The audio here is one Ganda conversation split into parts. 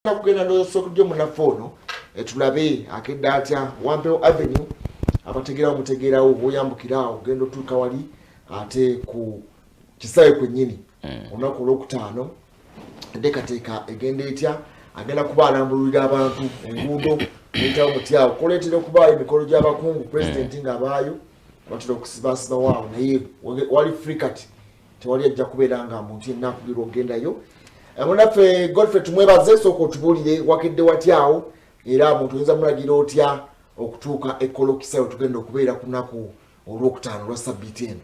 njagala kugenda nosokulyo munaffe ono etulabe akedde atya wampewo avenue abategeerawo mutegeerawo bwoyambukiraawo ogenda otuuka wali ate ku kisaawe kwennyini hmm. olunaku olwokutaano enteekateeka egenda etya agenda kuba alambululira abantu enguudo eyitawo mutyawo kuleetera okubaayo emikolo gy'abakungu pulezidenti hmm. ng'abaayo batera okusibasibawo awo naye wali free kati tewali ajja kubeera nga muntu yenna akugirwa okugendayo eh, munaffe godfrey tumwebaze sooka otubuulire wakedde watyaawo era muntu oyinza mulagira otya okutuuka ekolokisa we tugenda okubeera ku lunaku olwokutaano lwa sabbiiti eno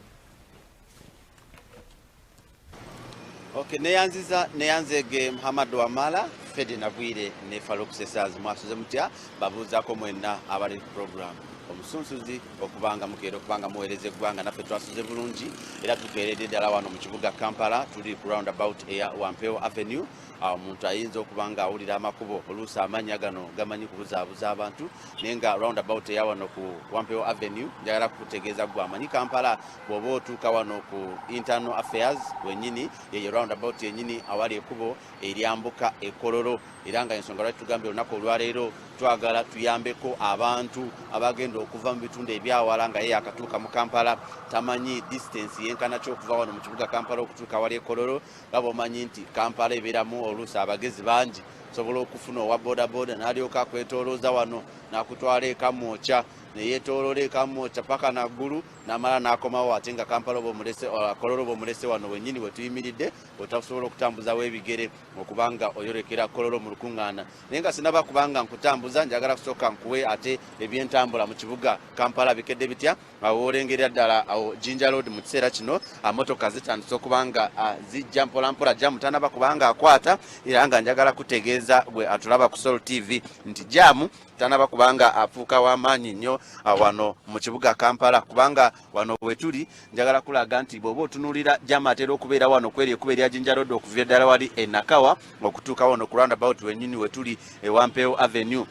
ok neyanziza neyanzege muhammad wamala fedi nagwire ne falukusesazi mwasuze mutya babuuzako mwenna abali ku programu omusunsuzi okubanga mukeera okubanga muweereza eggwanga naffe twasuze bulungi era tukeeredde ddala wano mu kibuga kampala tuli ku round about eya wampewo avenue awo omuntu ayinza okuba nga awulira amakubo oluusi amannya gano gamanyi kubuzaabuza abantu naye nga round about eya wano ku wampewo avenue njagala kukutegeeza gwe amanyi kampala bw'oba otuuka wano ku internal affairs wenyini yeyo round about yenyini awali ekubo eryambuka e Kololo era nga ensonga lwaki tugambye olunaku olwaleero twagala tuyambeko abantu abagenda okuva mu bitundu ebyawala nga ye yakatuuka mu Kampala tamanyi distance yenkana ki okuva wano mu kibuga Kampala okutuuka wali e Kololo nga bwomanyi nti Kampala ebeeramu oluusi abagezi bangi osobola okufuna owa bodaboda n'alyoka akwetoolooza wano n'akutwala ekamwokya neyetoolola ekamwokya paka naggulu n'amala n'akomawo ate nga Kampala oba omulese uh, Kololo oba omulese wano wennyini we tuyimiridde otasobola okutambuzawo ebigere okubanga oyorekera kololo mu lukuŋŋaana naye nga sinaba kubanga nkutambuza njagala kusooka nkuwe ate ebyentambula mu kibuga kampala bikedde bitya awo olengerera ddala awo jinja load mu kiseera kino motoka zitandise okubanga zijja mpolampola jamu tanaba kubanga akwata era nga njagala kutegeeza gwe atulaba ku sol tv nti jamu tanaba kubanga afuuka w'amaanyi nnyo wano mu kibuga kampala kubanga Wano wetuli njagala kulaga nti bwoba otunulira jama atera okubeera wano kweri ekuba erya jinja road okuva eddala wali enakawa okutuuka wano ku roundabout wenyini wetuli ewampeewo avenue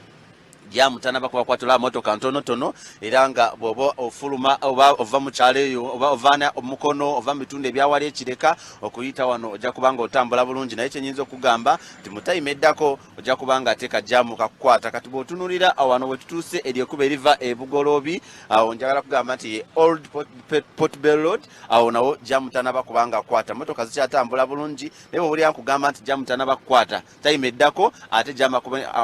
jamu tanaba kubakwatula motoka ntonotono era nga bwoba ofuluma oba ova mu kyalo eyo oba ovaana omukono ova mu bitundu ebyawali ekireka okuyita wano ojja kubanga otambula bulungi naye kyenyinza okugamba nti mutayima eddako ojja kuba nga ateeka jaamu kakukwata kati bw'otunulira awano we tutuuse eryo ekuba eriva e bugoloobi awo njagala kugamba nti ye old port bell road awo nawo jaamu tanaba kuba nga akwata motoka zikyatambula bulungi naye bwobulira nkugamba nti jaamu tanaba kukwata tayima eddako ate jaamu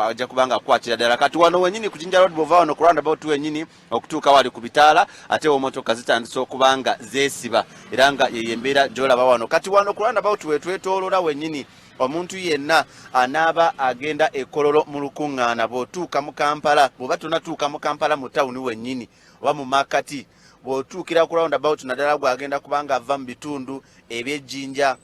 ajja kuba nga akwatira ddala kati wano wenyini ku jinja road bwova wano ku round about wenyini okutuuka wali ku bitaala ate emotoka zitandise okuba nga zeesiba era nga yeyo embeera gyolaba wano kati wano ku roundabout wetwetoolola wenyini omuntu yenna anaaba agenda ekololo mu lukuŋŋaana bw'otuuka mu kampala bw'oba tonatuuka mu kampala mu tawuni wenyini oba mu makati bw'otuukira ku roundabout naddala gwagenda kubanga ava mu bitundu eby'ejjinja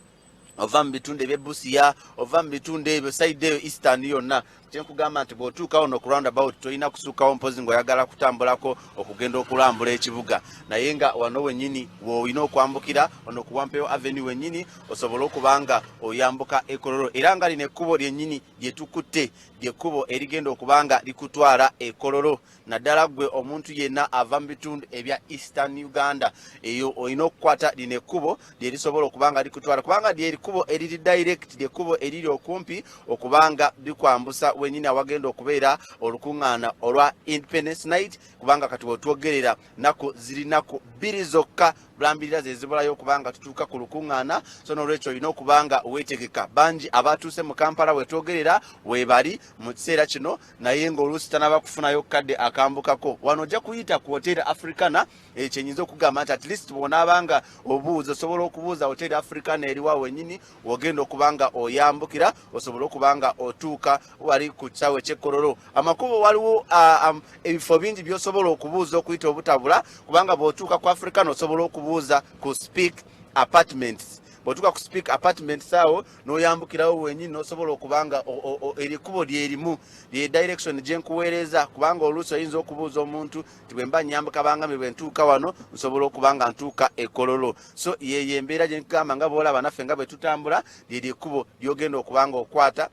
ova mu bitundu ebye busiya ova mu bitundu ebyo saidi eyo eastern yonna kyenkugamba nti bwotuukawo no kuround about tolina kusuukawo mpozi ngaoyagala kutambulako okugenda okulambula ekibuga naye nga wano wenyini woolina okwambukira ono kuwampewo aveni wenyini osobole okubanga oyambuka ekololo era nga lino ekkubo lyenyini lyetukutte lyekkubo erigenda okubanga likutwala ekololo naddala gwe omuntu yenna ava mu bitundu ebya eastern uganda eyo olina okukwata lino ekkubo lyerisobola okuba nga likutwala kubanga lyerikubo eriri direct lyekkubo eriri okumpi okuba nga bikwambusa wenyini awagenda okubeera olukuŋŋaana olwa independence night kubanga kati wetwogerera naku ziri naku bbiri zokka bulambirira zezibulayo okuba nga tutuuka ku lukuŋŋaana so nolwekyo olina okuba nga wetegeka bangi abatuuse mu kampala wetwogerera webali mu kiseera kino naye nga oluusi tanaba kufunayo kadde akambukako wano ojja kuyita ku hoteri africana ekyo eh, nyinza okugamba nti at least bwonaabanga obuuza osobola okubuuza hoteri africana eriwa wenyini wogenda okuba nga oyambukira osobole okuba nga otuuka wali ku kisaawe ekyekkololo amakubo waliwo ah, um, ebifo bingi byosobola okubuuza okuyita obutabula kubanga bwotuuka ku africana osobola okubuuza ku speak apartments bwotuuka ku speak apartments awo noyambukirawo wenyini nosobola okuba nga erikubo lyerimu lye direction gyenkuweereza kubanga oluusi oyinza okubuuza omuntu nti bwemba nyambuka bangami bwentuuka wano nsobola okuba nga ntuuka ekololo so yeyo embeera gyenkugamba nga boolaba naffe nga bwetutambula lyerikubo lyogenda okuba nga okwata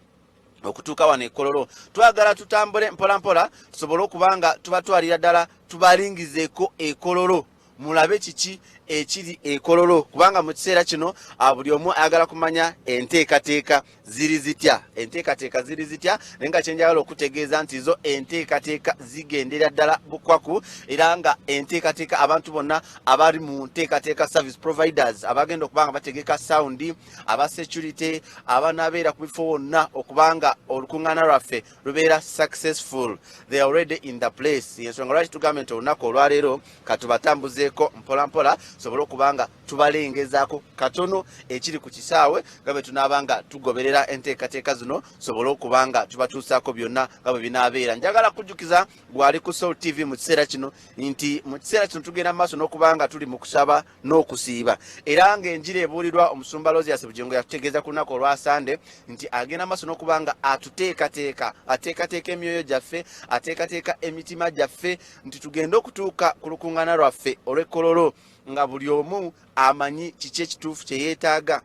okutuuka wano ekololo twagala tutambule mpolampola tusobole okuba nga tubatwalira ddala tubalingizeeko ekololo mulabe kiki ekiri ekololo kubanga mu kiseera kino ah, buli omu ayagala kumanya enteekateeka ziri zitya enteekateeka ziri zitya naye nga kyenjagala okutegeeza nti zo enteekateeka zigendera ddala bukwaku era nga enteekateeka abantu bonna abali mu nteekateeka service providers abagenda okuba nga bategeka sawundi aba security abanabeera ku bifo wonna okubanga olukuŋŋaana lwaffe lubeera successful they are already in the place yensonga lwaki tugambye nti olunaku olwaleero katubatambuzeeko mpolampola tusobole okuba nga tubalengezaako katono ekiri ku kisaawe nga bwe tunaaba nga tugoberera enteekateeka zino tusobole okuba nga tubatuusaako byonna nga bwe binaabeera njagala kujjukiza gwali ku soul tv mu kiseera kino nti mu kiseera kino tugenda mu maaso n'okuba nga tuli mu kusaba n'okusiiba era ng'enjiri ebuulirwa omusumba Lozias Bugingo yatutegeeza ku lunaku olwa Sande nti agenda maaso n'okuba nga atuteekateeka ateekateeka emyoyo gyaffe ateekateeka emitima gyaffe nti tugende okutuuka ku lukuŋŋaana lwaffe olw'ekkololo nga buli omu amanyi kiki ekituufu kye yeetaaga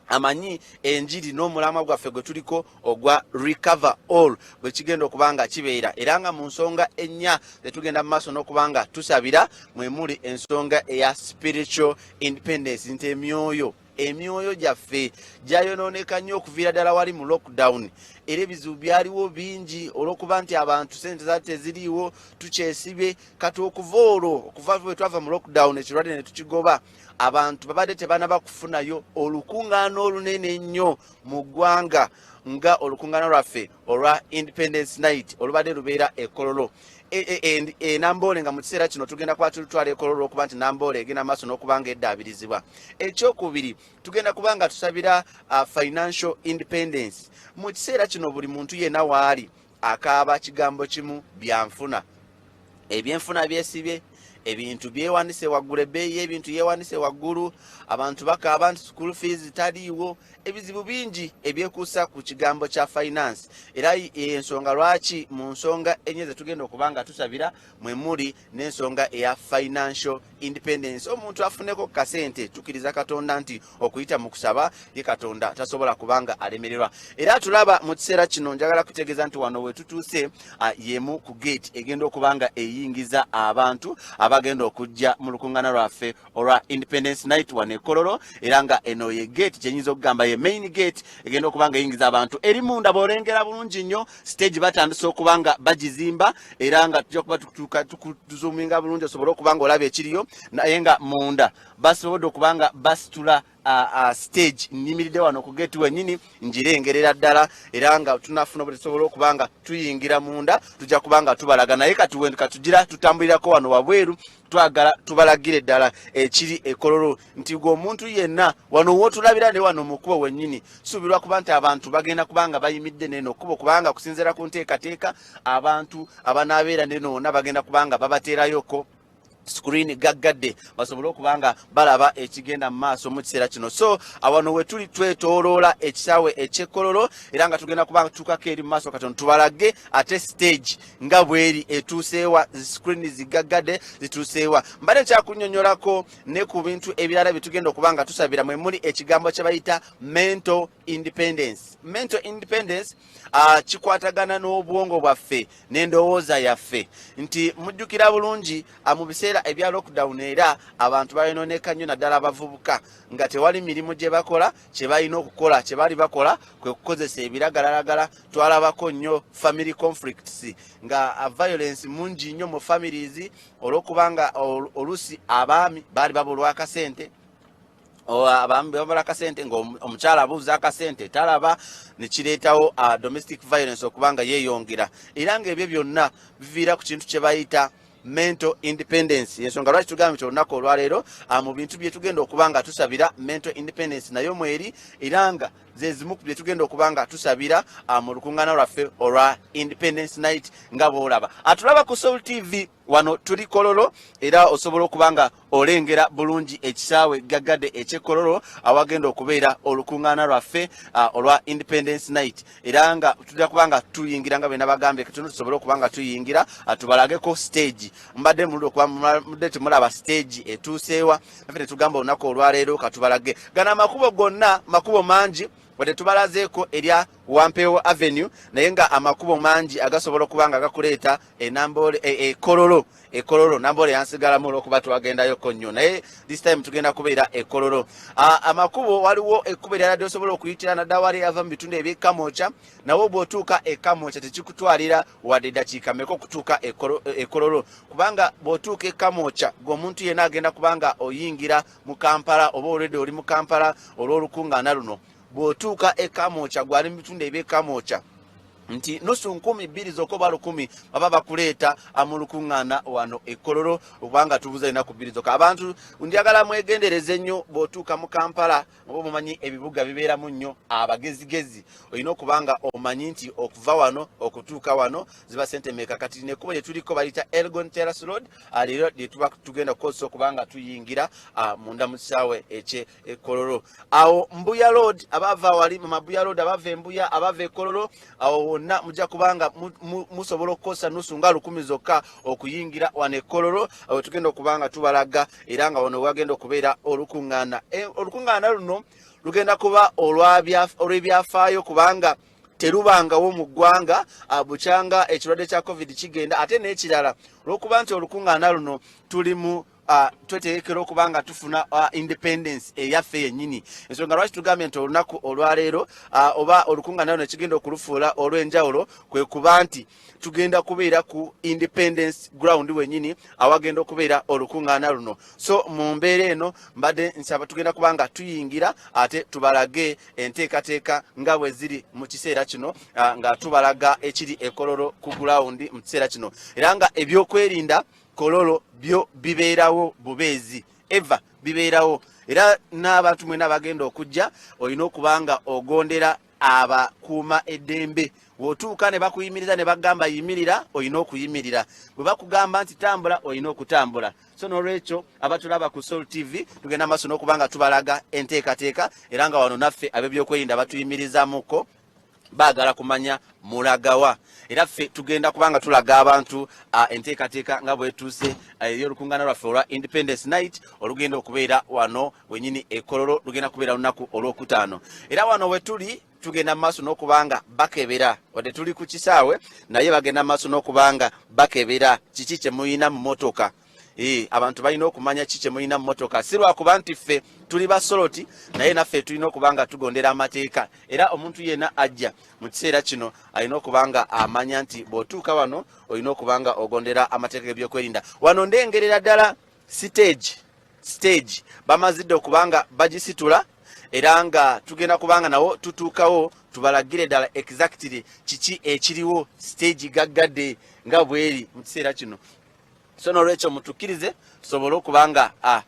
amanyi enjiri n'omulamwa gwaffe gwe tuliko ogwa recover all bwe kigenda okuba nga kibeera era nga mu nsonga ennya ze tugenda mu maaso n'okuba nga tusabira mwe muli ensonga eya spiritual independence nti emyoyo emyoyo gyaffe gyayonooneka nnyo okuviira ddala wali mu lockdown era ebizibu byaliwo bingi olwokuba nti abantu sente zali teziriiwo tukyesibe kati okuva olwo okuva bwe twava mu lockdown ekirwadde ne tukigoba abantu babadde tebanaba kufunayo olukungaana olunene ennyo mu ggwanga nga olukungaana lwaffe olwa independence night olubadde lubeera ekololo e, e, e, enamboole nga mu kiseera kino tugenda kuba tulutwala ekololo olwokuba nti namboole egenda maaso n'okuba nga eddaabirizibwa ekyokubiri tugenda kuba nga tusabira uh, financial independence mu kiseera kino buli muntu yena waali akaaba kigambo kimu byanfuna ebyenfuna byesibye ebintu byewanise waggulu ebbeeyi y'ebintu yewanise waggulu abantu bakaaba nti school fees taliiwo ebizibu bingi ebyekuusa ku kigambo kya finance era ensonga lwaki mu nsonga enye zetugenda okuba nga tusabira mwe muli n'ensonga eya financial independence omuntu afuneko ku kasente tukiriza katonda nti okuyita mu kusaba ye katonda tasobola kubanga alemererwa era tulaba mu kiseera kino njagala kutegeeza nti wano wetutuuse yemu ku gate egenda okuba nga eyingiza abantu abagenda okujja mu lukuŋŋana lwaffe olwa independence night wano ekololo era nga eno ye gate kyenyinza okugamba ye main gate egenda okuba nga eyingiza abantu eri munda bwolengera bulungi nnyo stage batandise okuba nga bagizimba era nga tujja kuba tukutuuka tukuzuminga bulungi osobole okuba nga olaba ekiriyo naye nga munda Basobodde okuba nga basitula stage nnyimiridde wano ku geeti wennyini ngirengerera ddala era nga tunafuna bwe tusobola okuba nga tuyingira munda tujja kuba nga tubalaga naye kati wendu katugira tutambulirako wano wabweru twagala tubalagire ddala ekiri ekololo nti gwe omuntu yenna wano wotulabira ne wano mukubo wennyini suubirwa kuba nti abantu bagenda kuba nga bayimidde neno kubo kubanga kusinziira ku nteekateeka abantu abanaabeera nenoona bagenda kuba nga babateerayoko screen gaggadde basobole okuba nga balaba ekigenda mu maaso mu kiseera kino so awano wetuli twetoloola ekisaawe ekyekkololo era nga tugenda kuba tukako eri mu maaso katono tubalage ate stage nga bweri etuuseewa screen zigaggadde zituuseewa mbadde nkyakunyonyolako ne ku bintu ebirala byetugenda okuba nga tusabira mwe muli ekigambo kyebayita mental independence mental independence uh, kikwatagana n'obwongo bwaffe n'endowooza yaffe nti mujjukira bulungi ah, mu biseera ebya lockdown era abantu bayononeka nnyo naddala abavubuka nga tewali mirimu gye bakola kye balina okukola kye bali bakola kwe kukozesa ebiragalalagala twalabako nnyo family conflicts nga ah, violence mungi nnyo mu families olw'okubanga oluusi abaami baali babulwakasente abamala akasente ngaomukyala abuuza akasente talaba nekireetawo ah, domestic violence okuba nga yeyongera era nga ebyo byonna biviira ku kintu kyebayita mental independence yensonga lwaki tugamba nti olunaku olwaleero ah, mu bintu byetugenda okuba nga tusabira mental independence nayo mweri era nga zezimu ku byetugenda okuba nga tusabira ah, mu lukuŋŋaana lwaffe olwa independence night nga bwolaba atulaba ku soul tv wano tuli kololo era osobola okuba nga olengera bulungi ekisaawe gaggade ekyekololo awagenda okubeera olukuŋŋaana lwaffe olwa independence night era nga tujja kuba nga tuyingira nga bena bagambye katono tusobole okuba nga tuyingira tubalageko stage mbadde muludi okuba mudde temulaba stage etuuseewa nafe netugamba olunaku olwaleero katubalage gana amakubo gonna makubo mangi wadde tubalazeeko erya wampeewo avenue naye nga amakubo mangi agasobola okuba nga gakuleeta e Namboole e, e Kololo e Kololo Namboole yansigalamu olwokuba twagendayo ko nnyo naye this time tugenda kubeera e Kololo amakubo waliwo ekkubo erala lyosobola okuyitira naddala wali ava mu bitundu eby'e Kamwokya nawo bw'otuuka e Kamwokya tekikutwalira wadde eddakiika meka okutuuka e, e Kololo kubanga bw'otuuka e Kamwokya gweomuntu yenna agenda kubanga oyingira mu Kampala oba olwedde oli mu Kampala olw'olukungaana luno bw'otuuka e Kamwokya gwali mu bitundu eby'e Kamwokya nti nusu nkumi bbiri zokka oba lukumi baba bakuleeta amulukuŋŋaana wano ekkololo okubanga tubuza enaku bbiri zokka abantu njagala mwegendereze nnyo bw'otuuka mu kampala oba omumanyi ebibuga bibeeramu nnyo abagezigezi olina okuba nga omanyi nti okuva wano okutuuka wano ziba sente meeka kati nekubo lye tuliko bayita elgon terras road ah, leero lye tuba tugenda kukozesa okuba nga tuyingira ah, munda mu kisaawe ekye ekololo awo mbuya road abava wali mu mabuya road abava embuya abava ekololo awo wonna mujja kubanga musobola okukosa nusu nga lukumi zokka okuyingira wano ekololo awo tugenda okubanga tubalaga era nga wano wagenda okubeera olukuŋŋaana e, olukuŋŋaana luno lugenda kuba olw'ebyafaayo kubanga terubangawo mu ggwanga ah, bukyanga ekirwadde kya covid kigenda ate n'ekirala olw'okuba nti olukuŋŋaana luno tuli mu Ah, twetegekera okuba nga tufuna ah, independence eyaffe yennyini ensonga lwaki tugambye nti olunaku olwaleero ah, oba olukunganao nekigenda okulufuula olw'enjawulo kwe kuba nti tugenda kubeera ku independence ground wennyini awagenda okubeera olukungaana luno so mu mbeera eno mbadde nsaba tugenda kuba nga tuyingira ate tubalage enteekateeka nga bwe ziri mu kiseera kino nga tubalaga ekiri ekololo ku gulawundi mu kiseera kino era nga ebyokwerinda Kololo byo bibeerawo bubeezi ever bibeerawo era n'abantu mwena abagenda okujja olina okuba nga ogondera abakuuma eddembe wotuuka ne bakuyimiriza ne bagamba yimirira olina okuyimirira bwe bakugamba nti tambula olina okutambula so nolwekyo abatulaba ku sol tv tugenda maaso n'okuba nga tubalaga enteekateeka era nga wano naffe ab'ebyokwerinda batuyimirizamuko bagala kumanya mulagawa era ffe tugenda kubanga tulaga abantu uh, enteekateeka nga bwetuuse uh, eyolukungana lwaffe olwa independence night olugenda okubeera wano wenyini ekololo lugenda kubeera lunaku olwokutaano era wano wetuli tugenda maaso nokubanga bakebera wadde tuli ku kisaawe naye bagenda maaso nokubanga bakebera kiki kyemuyina mu motoka Ee, abantu balina okumanya ki kyemulina mu motoka si lwakuba nti ffe tuli basoloti naye naffe tulina okuba nga tugondera amateeka era omuntu yena ajja mu kiseera kino alina okuba nga amanya nti bw'otuuka wano olina okuba nga ogondera amateeka gebyokwerinda wano ndengerera ddala siteegi siteegi bamazidde okuba nga bagisitula era nga tugenda kuba nga nawo tutuukawo tubalagire ddala exactly kiki ekiriwo siteegi gaggadde nga bweri mu kiseera kino so nolwekyo mutukirize tusobole okuba nga ah,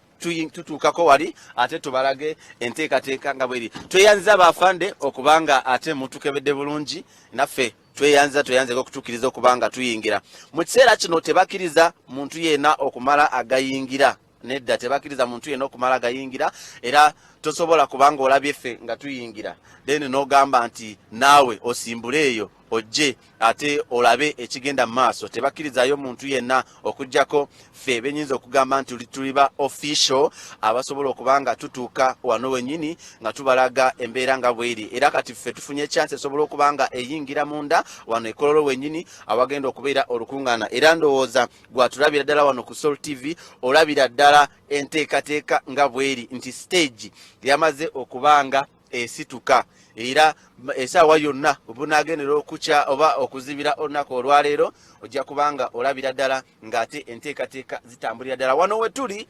tutuukako wali ate tubalage enteekateeka nga bweri tweyanziza bafande okuba nga ate mutukebedde bulungi naffe tweyanziza tweyanzeko okutukiriza okuba nga tuyingira mu kiseera kino tebakiriza muntu yeena okumala agayingira nedda tebakiriza muntu yena okumala gayingira era tosobola kubanga olabye ffe nga tuyingira then nogamba nti naawe osimbule eyo ojje ate olabe ekigenda mu maaso tebakirizayo muntu yenna okujjako ffe benyinza okugamba nti tuliba official abasobola okuba nga tutuuka wano wenyini nga tubalaga embeera nga bweri era kati ffe tufunye chance esobola okuba nga eyingira munda wano ekololo wenyini awagenda okubeera olukungaana era ndowooza gwatulabira ddala wano ku sol tv olabira ddala enteekateeka nga bweri nti stage yamaze okubanga esituka era esaawa yonna obunagendera okukya oba okuzibira olunaku olwaleero ojja kubanga olabira ddala ngaate enteekateeka zitambulira ddala wano wetuli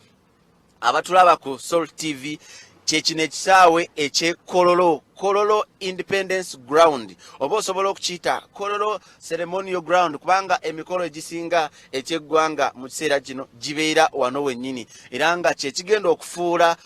abatulaba ku sol tv kyekino ekisaawe ekyekololo kololo independence ground oba osobola okukiyita kololo ceremonio ground kubanga emikolo egisinga ekyeggwanga mu kiseera kino gibeera wano wennyini era nga kyekigenda okufuula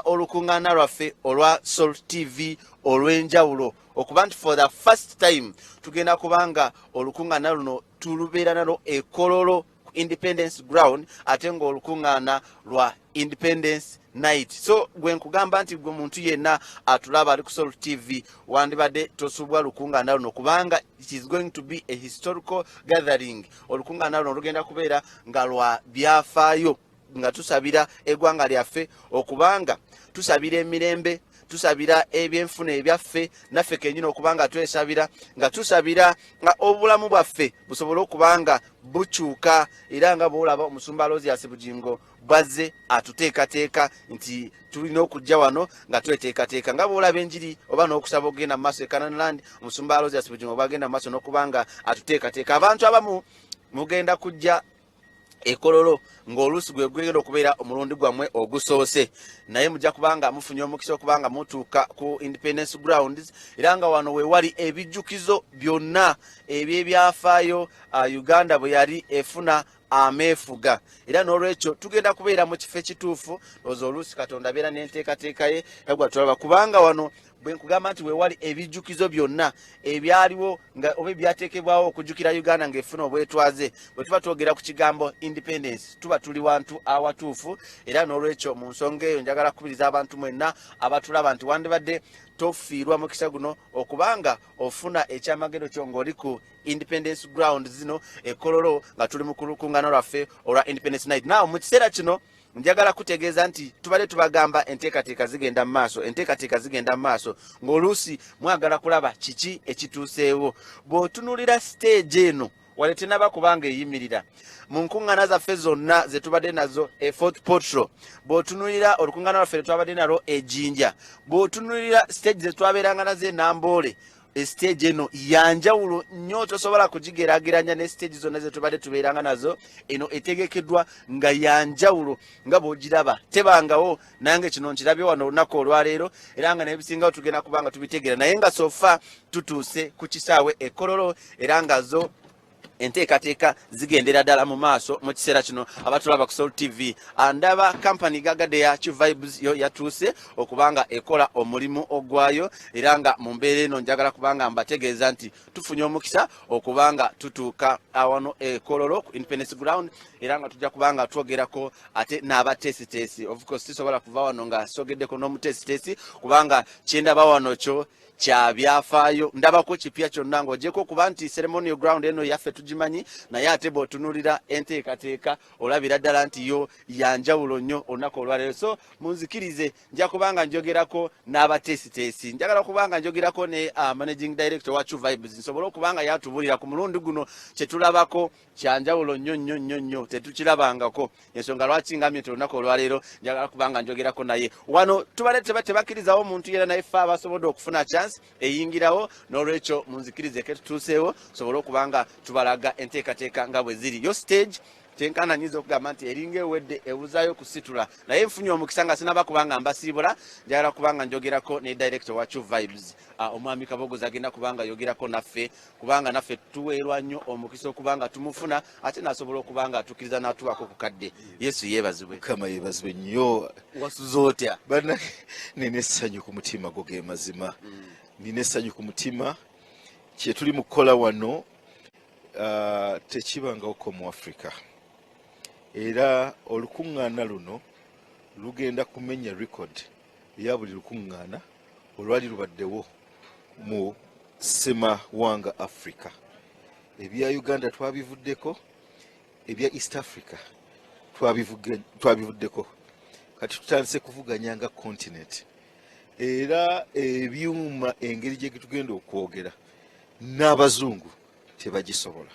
olukuŋŋaana lwaffe olwa sol tv olw'enjawulo okuba nti for the first time tugenda kubanga olukuŋŋaana luno tulubeera nalo ekololo ku independence ground ate ng'olukuŋŋaana lwa independence night so gwe nkugamba nti gwe muntu yenna atulaba ali ku sol tv wandibadde tosubwa lukuŋŋaana luno kubanga it is going to be a historical gathering olukuŋŋaana luno lugenda kubeera nga lwa byafaayo nga tusabira egwanga lyaffe okubanga tusabira emirembe tusabira ebyenfuna ebyaffe naffe kenyini okubanga twesabira nga tusabira nga obulamu bwaffe busobole okubanga bukyuka era nga bwolaba omusumba losias bugingo bwazze atuteekateeka nti tulina okujja wano nga tweteekateeka nga bwolaba enjiri oba n'okusaba okugenda mu maaso ekananland omusumba losias bugingo bwagenda mu maaso n'okuba nga atuteekateeka abantu abamu mugenda kujja ekololo ng'oluusi gwe gwegenda okubeera omulundi gwammwe ogusoose naye mujja kubanga mufunye omukisa okubanga mutuuka ku independence grounds era nga wano wewali ebijjukizo byonna ebyebyafaayo uh, uganda bwe yali efuna ameefuga era n'olwekyo tugenda kubeera mu kifo ekituufu oza oluusi katonda abeera n'enteekateeka ye yagwa tulaba kubanga wano bwe nkugamba nti weewali ebijjukizo byonna ebyaliwo nga oba ebyateekebwawo okujjukira uganda ng'efuna obwetwaze bwe tuba twogera ku kigambo independence tuba tuli wantu awatuufu era n'olwekyo mu nsonga eyo njagala kukubiriza abantu mwenna abatulaba nti wandibadde tofiirwa mukisa guno okubanga ofuna ekyamagero kyo ng'oli ku independence ground zino ekololo nga tuli mu kulukungana lwaffe olwa independence night naw mu kiseera kino Njagala kutegeeza nti tubadde tubagamba enteekateeka zigenda mu maaso, enteekateeka zigenda mu maaso, ng'oluusi mwagala kulaba kiki ekituuseewo. Bw'otunulira siteegi eno wali tenaba kubanga eyimirira mu nkuŋŋaana zaffe zonna ze tubadde nazo e fort potro bw'otunulira olukuŋŋaana lwaffe lwe twabadde nalwo ejinja bw'otunulira siteegi ze twabeeranga nazo enamboole esiteegi eno yanjawulo nnyo tosobola kugigeraageranya ne siteegi zonna ze tubadde tubeeranga nazo eno etegekeddwa nga yanjawulo nga bw'ogiraba tebangawo nange kino nkirabye wano olunaku olwaleero era nga nebisingawo tugenda kuba nga tubitegeera naye nga sofa tutuuse ku kisaawe ekololo era nga zo enteekateeka zigendera ddala mu maaso mu kiseera kino abatulaba ku sol tv andaba kampani gagadde ya kivibes yo yatuuse okuba nga ekola omulimu ogwayo era nga mu mbeera eno njagala kubanga mbategeeza nti tufunye omukisa okuba nga tutuuka awano ekololo ku independence ground era nga tujja kuba nga twogerako ate n'abateesiteesi ofcourse tusobola kuva wano nga sogeddeko n'omuteesiteesi kubanga kyendaba wano kyo kya byafaayo ndabako kipya kyonna ng'ogyeko okuba nti ceremonial ground eno yaffe tugimanyi naye ate bw'otunulira enteekateeka olabira ddala nti yo yanjawulo nnyo olunaku olwaleero so munzikirize nja kubanga njogerako n'abateesiteesi njagala kubanga njogerako ne uh, managing director wa chu vibes nsobole okubanga yatubulira ku mulundi guno kye tulabako kyanjawulo nnyo nnyo nnyo nnyo tetukirabangako ensonga lwaki ngamye ti olunaku olwaleero njagala kubanga njogerako naye wano tubale tebakkirizawo omuntu yera naye fe abasobodde okufuna chance eyingirawo n'olwekyo munzikirize ke tutuuseewo sobole okuba nga tubalaga enteekateeka nga bwe ziri yo stage kyenkana nyinza okugamba nti eringa ewedde ebuzayo kusitula naye nfunye omukisa nga sinaba kubanga mbasiibula njagala kubanga njogerako ne director wa chu vibes ah, omwami kabogoza agenda kubanga yogerako naffe kubanga naffe tuweerwa nnyo omukisa okuba nga tumufuna ate nasobola okuba nga atukiriza natuwako ku kadde yesu yeebazibwe kama yeebazibwe nnyo wasuza otya bana nina essanyu ku mutima go ge mazima mm. nina essanyu ku mutima kyetuli mu kukola wano uh, tekibangawoko mu africa era olukuŋŋaana luno lugenda kumenya record ya buli lukuŋŋaana olwali lubaddewo mu ssemawanga africa ebya uganda twabivuddeko ebya east africa twabivuddeko kati tutandise kuvuganya nga continent era ebyuma engeri gye tugenda okwogera n'abazungu tebagisobola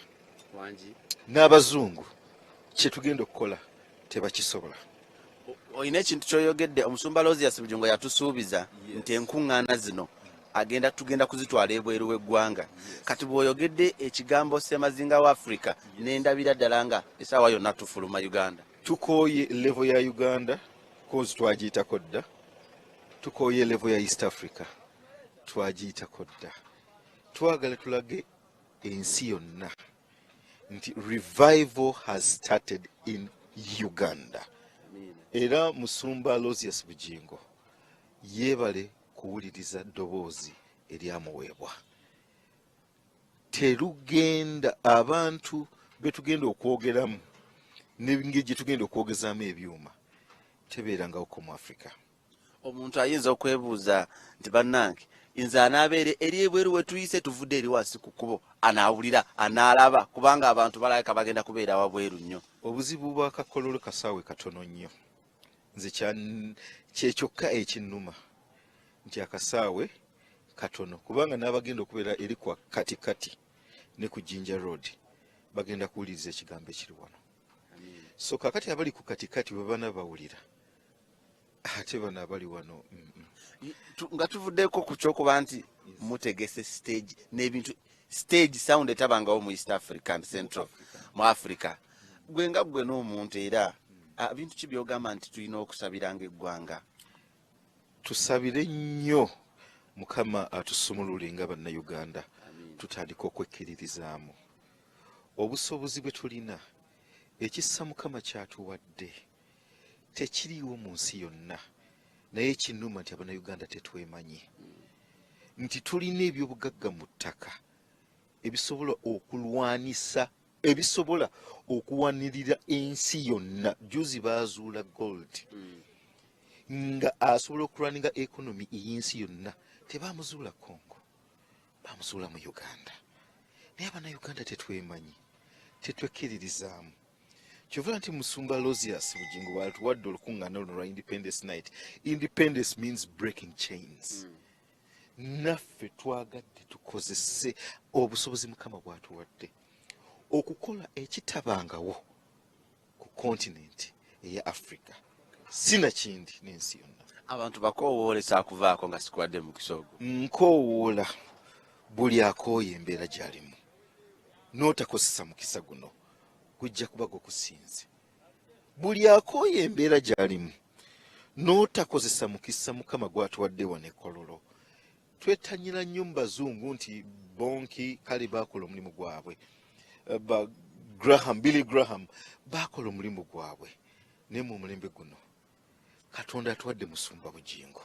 n'abazungu kye tugenda okukola tebakisobola olina ekintu kyoyogedde omusumba losias bujungo yatusuubiza nti enkuŋŋaana zino agenda tugenda kuzitwala ebweru w'eggwanga kati bw'oyogedde ekigambo ssemazinga wa afrika nendabira ddala nga esaawa yonna tufuluma uganda tukooye levo ya uganda kozi twagiyitako dda tukooye levo ya east africa twagiyitako dda twagala tulage ensi yonna nti revival has started in uganda era musumba losius bugingo yeebale kuwuliriza ddoboozi eryamuweebwa terugenda abantu betugenda okwogeramu nengeri gyetugenda okwogezaamu ebyuma tebeerangawo komu africa Omuntu ayinza okwebuuza nti bannange nze anaabeera eri ebweru wetuyise tuvudde eri wansi ku kkubo anaawulira anaalaba kubanga abantu balabika bagenda kubeera wabweru nnyo. Obuzibu bwa kakololo kasaawe katono nnyo nze kyekyokka ekinnuma nti akasaawe katono kubanga n'abagenda okubeera eri kwa kati kati ne ku jinja road bagenda kuwuliriza ekigambo ekiri wano so kakati abali ku katikati bwe bana bawulira ate bano abali wano mm, mm. nga tuvuddeko ku kyokuba nti mutegese stage n'ebintu stage sound etabangawo mu east african central mu africa gwe nga gwe n'omuntu era ah, bintu ki byogamba nti tulina okusabiranga eggwanga tusabire nnyo mukama atusumulule nga bannayuganda tutandika okwekkiririzaamu obusobozi bwe tulina ekissa mukama kyatuwadde mm. tekiriiwo mu nsi yonna naye kinuma nti abanauganda tetwemanyi nti tulina ebyobugagga mu ttaka ebisobola okulwanisa ebisobola okuwanirira ensi yonna juzi baazuula gold hmm. nga asobola okulwaninga ekonomi ey'ensi yonna tebaamuzuula congo baamuzuula mu uganda naye abanauganda tetwemanyi tetwekkiririzaamu kyovula nti musumba losius bugingo bwalituwadde olukuŋŋaana luno lwa independence night independence means breaking chains mm. naffe twagadde tukozese obusobozi mukama bwatuwadde okukola ekitabangawo ku kontinenti eya africa sinakindi n'ensi yonna abantu bakowoola ekyakuvaako nga sikuwadde mukisa ogwo nkowoola buli akooye embeera gyalimu n'otakozesa mukisa guno gujja kuba gwe kusinze buli akooye embeera gy'alimu n'otakozesa mukisa mukama gwatuwadde wano ekololo twetanyira nnyo mu bazungu nti bonki kale baakola omulimu gwabwe eh, ba graham billy graham baakola omulimu gwabwe naye mu omulembe guno katonda atuwadde musumba bugingo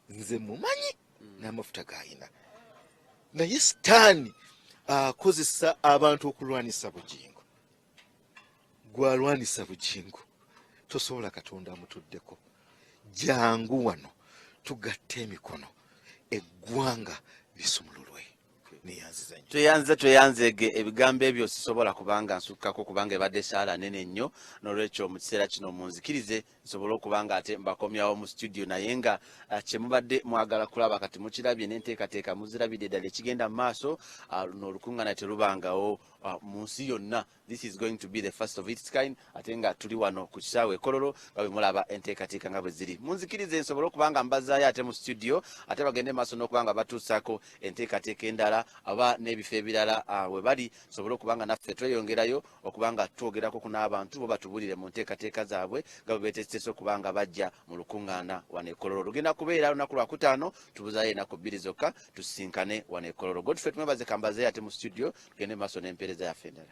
nze mumanyi n'amafuta gayina naye sitaani akozesa abantu okulwanisa bugingo gwalwanisa bugingo tosobola katonda amutuddeko jangu wano tugatte emikono eggwanga lisumululwe tweyanziza tweyanzeege ebigambo ebyo sisobola kubanga nsukkako kubanga ebadde esaala nene nnyo nolwekyo mu kiseera kino munzikirize nsobole okuba nga ate mbakomyawo mu situdio naye nga ah, kyemubadde mwagala kulaba kati mukirabye nenteekateeka muzirabidde ddala ekigenda mu maaso ah, luno olukuŋŋana terubangawo ah, mu nsi yonna This is going to be the first of its kind ate nga tuli wano ku kisaawe ekololo nga bwe mulaba enteekateeka nga bwe ziri munzikiriza ensobola okuba nga mbazaayo ate mu studio ate bagende maaso n'okuba nga batuusaako enteekateeka endala aba n'ebifo ebirala ah, we bali sobole okuba nga naffe tweyongerayo okuba nga twogerako ku n'abantu bo batubulire mu nteekateeka zaabwe nga bwe beeteeseteese okuba nga bajja mu lukuŋŋaana wano ekololo lugenda kubeera lunaku lwa kutaano tubuzaayo enaku bbiri zokka tusisinkane wano ekololo godfrey tumwebaze kambazeeyo ate mu studio tugende maaso n'empeereza yaffe endala